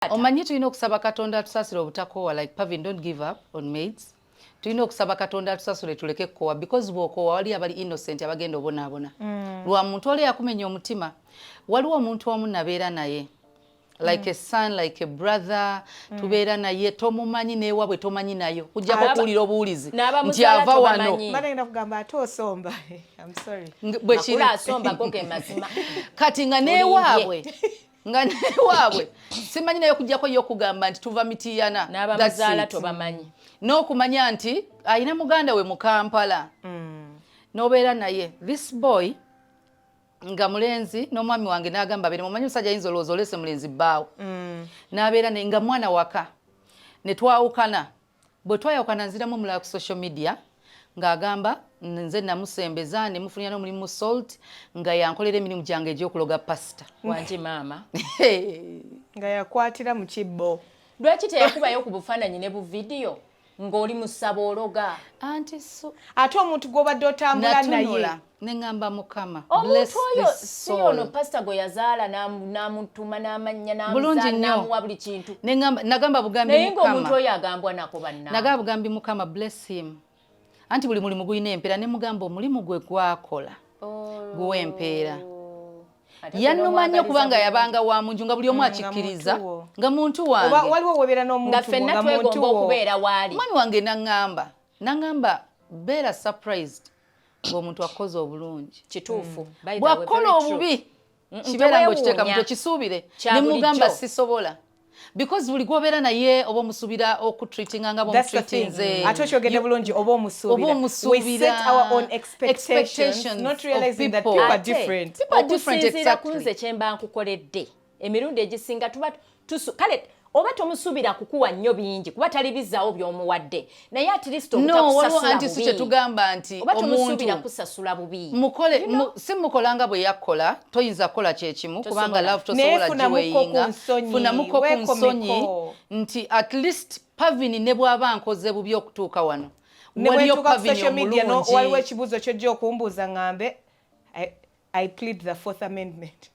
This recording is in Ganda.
taata omanyi tulina okusaba katonda atusasire obutakoowa like pavin don't give up on maids tulina okusaba katonda atusasule tuleke kukowa because bwokowa wali abali innocent abagenda obonaabona mm. lwa muntu oli yakumenya omutima waliwo omuntu omu nabeera naye like mm. a son like a brother mm. tubeera naye tomumanyi newabwe tomanyi nayo kujjako okuwulira obuwulizi nti ava wano kati nga newabwe nga newaabwe simanyi naye okujjako ye okugamba nti tuva mitiyana n'abamuzaala tobamanyi n'okumanya nti alina muganda we mu kampala mm. n'obeera naye this boy nga mulenzi n'omwami wange n'agamba bere mumanyi musajja yinza olowooza olese mulenzi bbaawo mm. n'abeera naye nga mwana waka ne twawukana Bwe twayawukana nziramu omulala ku social media ng'agamba nze namusembeza ne mufunira n'omulimu mu salt nga yankolera emirimu gyange egy'okuloga pasita wangi maama nga yakwatira mu kibbo lwaki teyakubayo ku bufaananyi ne bu vidiyo ng'oli musaba ologa anti so ate omuntu gw'obadde otambula naye neŋamba mukama omuntu oyo si ono pasita gwe yazaala n'amutuma n'amannya n'amuwa buli kintu nagamba bugambi naye ngaomuntu oyo agambwa nako bannanagamba bugambi mukama bless him anti buli mulimu gulina empeera ne mugamba omulimu gwe gwakola oh. guwa empeera yanuma nnyo kubanga yabanga wa munju nga buli omu mm, akikkiriza nga muntu wangewaliwo fenna twegomba okubeera waali omwami wange naŋŋamba naŋŋamba beera surprised ng'omuntu akukoze obulungi kituufu mm. bwakukola obubi mm, mm, kibeera ngaokiteeka mu tekisuubire ne mugamba sisobola because buli gwobeera naye oba omusubira okutreatinga nga bamutreatinze ate okyogedde bulungi oba omusubira okusinziira ku nze kyemba nkukoledde emirundi egisinga tuba tusu kale oba tomusubira kukuwa nnyo bingi kuba tali bizawo byomuwadde naye atlisitobutakusasulabubioba nti tomusubira kusasula bubi mukole si mukola nga bwe yakkola toyinza kukola kyekimu kubanga love tosobola giweyinga funamuko ku nsonyi nti at least pavini ne bwaba nkoze bubi okutuuka wano waliyo pavini omulungi waliwo ekibuuzo kyojja okumbuuza ngambe I, i plead the fourth amendment